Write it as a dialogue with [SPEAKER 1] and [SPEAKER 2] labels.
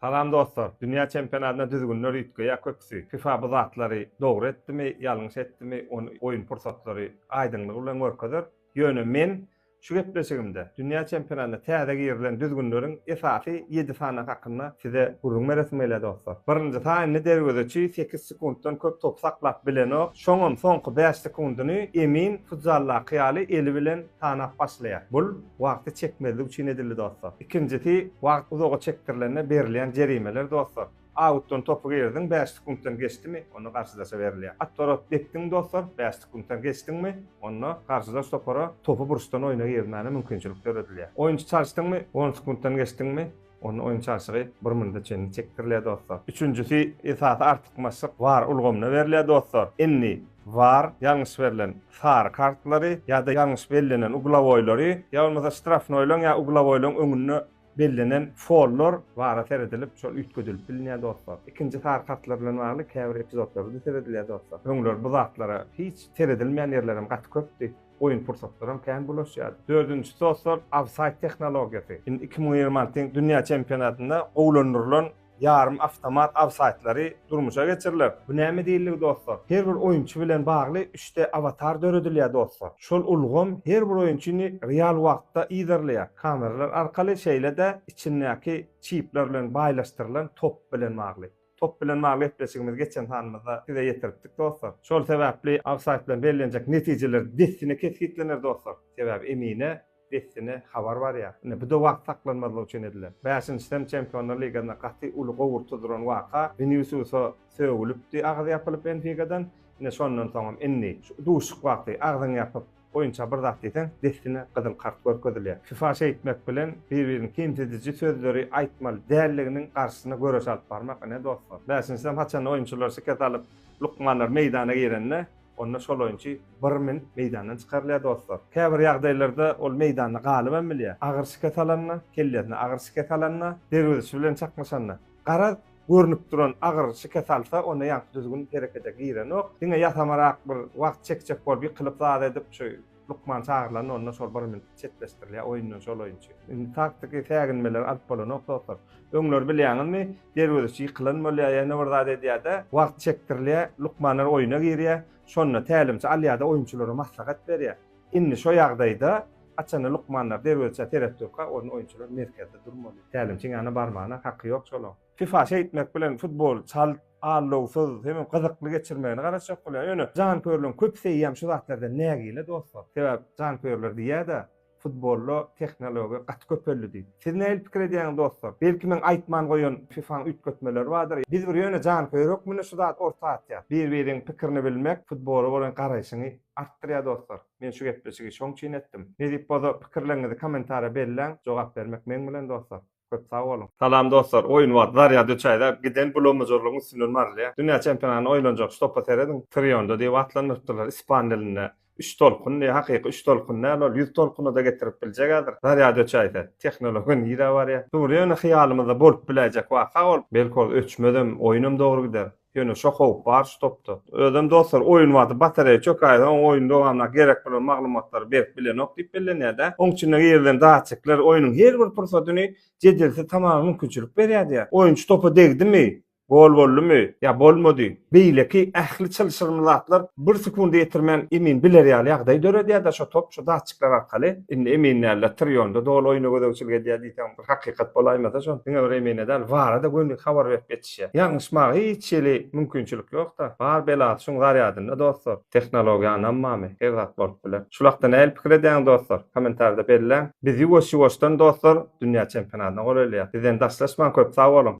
[SPEAKER 1] Salam dostlar! Dünýä çempionatyna düzgünler üýtgeýär köpüsi. Fifa bu zatlary dogry etdimi, ýalňyş etdimi, ony oýun pursatlary aýdyňlygy bilen görkezer. Ýöne men şu gepleşigimde dünýä çempionatyna täze girilen düzgünleriň esasy ýedi sany hakynda size gürrüň beresim gelýär dostlar. Birinji sanyny derwezeçi sekiz sekuntdan köp top saklap bilenok, şoňam soňky bäş sekundyny emin futsaldaky ýaly eli bilen sanap başlaýar. Bul wagty çekmezlik üçin edildi dostlar. Ikinjisi wagt uzaga çekdirilende berilýän jerimeler dostlar. Autdan topy girdiň bäş sekuntdan geçdimi onda garşydaşa berilýär. Otworot depdiň dostlar bäş sekuntdan geçdiňmi onda garşydaş topara topy burçdan oýna girmäne mümkinçilik döredilýär. Oýunçy çalyşdyňmy on sekuntdan geçdiňmi Onda oýun çalşygy bir minute çenli çekdirilýär dostlar. Üçünjisi esasy artykmaçlyk war ulgamyna berilýär dostlar. Indi war ýalňyş berlen sary kartlary ýa-da ýalňyş bellenen uglawoýlary ýa bolmasa ştrafnoýlaň ýa uglawoýlaň öňünde bellenen follar wara seredilip şol üýtgedilip bilinýär dostlar. Ikinji sary kartlar bilen bagly käbir epizodlarda seredilýär dostlar. Öňler bu zatlara hiç seredilmeýän ýerlerem gaty köpdi. oýun pursatlaram kän bulaşýardy. Dördünji sosor ofsaýd tehnologiýasy. Indi iki müň ýigrimi altynyň dünýä çempionatynda gowulandyrylan ýarym awtomat ofsaýdlary durmuşa geçiriler. Bu näme diýildigi dostlar? Her bir oýunçy bilen bagly üçte awatar döredilýär dostlar. Şol ulgam her bir oýunçyny real wagtda yzarlaýar. Kameralar arkaly şeýle-de içindäki çipler bilen baýlaşdyrylan top bilen bagly. Top bilen bagly gepleşigimizi geçen sanymyzda size ýetiripdik dostlar. Şol sebäpli ofsaýd bilen bellenjek netijeler dessine kesgitlener dostlar. Sebäbi Emine dessine habar barýar. Ine bu-da wagt saklanmazlygy üçin edilen. Bäşinjiden Çempionlar ligasynda gaty uly gowurtdy duran waka Winisiusa sögülipdi agyz ýapylyp Benfikadan. Ine şondan soňam indi şu duşuşyk wagty agzyňy ýapyp boýunça bir zat diýseň, dessine gyzyl kart görkezilýär. Sypaş eýtmek bilen, bir-birini kemsidiji sözleri aýtmaly däldiginiň garşysyna göreş alyp barmak, ine, dostlar. Bäşinsem, haçanda oýunçylar şikes alyp, lukmanlar meýdana girende, onda şol oýunçy bir minut meýdandan çykarylýar, dostlar. Käbir ýagdaýlarda ol meýdanda galybam bilýär. Agyr şikes alanda, kellesine agyr şikes alanda, derwezişi bilen çaknyşanda. Garaz, görnüp duran agyr şike salsa, onda ýaňky düzgün herekete girenok. Diňe ýasamarak bir wagt çekjek bolup, ýykylyp zat edip, şu lukman çagyrylanda, onda şol bir minut çetleşdirilýär, oýundan şol oýunçy. Indi taktiki säginmeleri alyp bolanok, dostlar. Öňler bilýäňizmi, derwezeçi ýykylan bolýar, ýene bir zat edýär-de, wagt çekdirilýär, lukmanlar oýuna girýär. Şonda tälimçi alýar-da, oýunçylara maslahat berýär. Indi şo ýagdaýda haçanda lukmanlar derwezçä seret durka, onuň oýunçylar merkezde durmaly. Tälimçiň ýanyna barmagyna haky ýok şolaň. Fifa şeýtmek bilen futboly çalt, allowsyz, hemem gyzykly geçirmegine garaşjak bolýar. Ýöne janköýerleriň köpüseýýäm şu zatlardan nägile dostlar. Sebäp janköýerler diýýär-de, futbolda tehnologiýa gaty köpeldi diýip. Siz nähili pikir edýäňiz dostlar? Belki meň aýtman goýan Fifa-nyň üýtgetmeleri bardyr. Biz bir ýöne janköýer hökmünde şu zady orta atýas. Bir-biriň pikirini bilmek, futbola bolan garaýşyňy artdyrýar dostlar. Men şu gepleşigi şoň üçin etdim. Nesip bolsa pikirleriňizi komentarýa belläň, jogap bermek meň bilen dostlar. Köp sag boluň. Salam dostlar oýun wagt zarýad üç aýda giden bulamajyrlygyň üstünden barylýar dünýä çempionatyna oýlanjak şu topa serediň trionda diýip atlandyrypdyrlar ispan dilinde üç tolkun diýip hakyky üç tolkun däl ol ýüz tolkunada getirip biljek häzir zarýad üç aýda tehnologiýa nirä barýar dury ýöne hyýalymyzda bolup biläýjek waka ol belki ol öçmezem oýunam dogry gider. Ýöne şo howp bar şu topda. Özem dostlar oýun wagty batareýa çökäýse oň oýun dowamynda gerek bolan maglumatlary berip bilenok diýip bellenýärda. Oň içinde girilen datçikler oýnuň her bir pursatyny jedelsiz tamama mümkinçilik berýärdiýä. Oýunçy topa degdimi, gol boldumy, ýa bolmady, beýleki ähli çylşyrymly zatlar bir sekundy ýetirmän emin biler ýaly ýagdaý döredýärda şo top şu datçikler arkaly. Indi emin dälde Trionda doly oýna gözegçilik edýär diýseň bir hakykat bolaýmasa şony diňe bir emine däl vara-da gönük habar berip geçýär. işe. Ýalňyşmaga hiç hili mümkinçilik ýokda. Bar belasy şuň zarýadynda dostlar. Tehnologiýa ynanmamy? Her zat bolup biler. Şul hakda nähili pikir edýäňiz dostlar? Komentarda belläň. Biz ýuwaş ýuwaşdan dostlar dünýä çempionatyna golaýlaýas. Bizden daşlaşmaň köp sag boluň.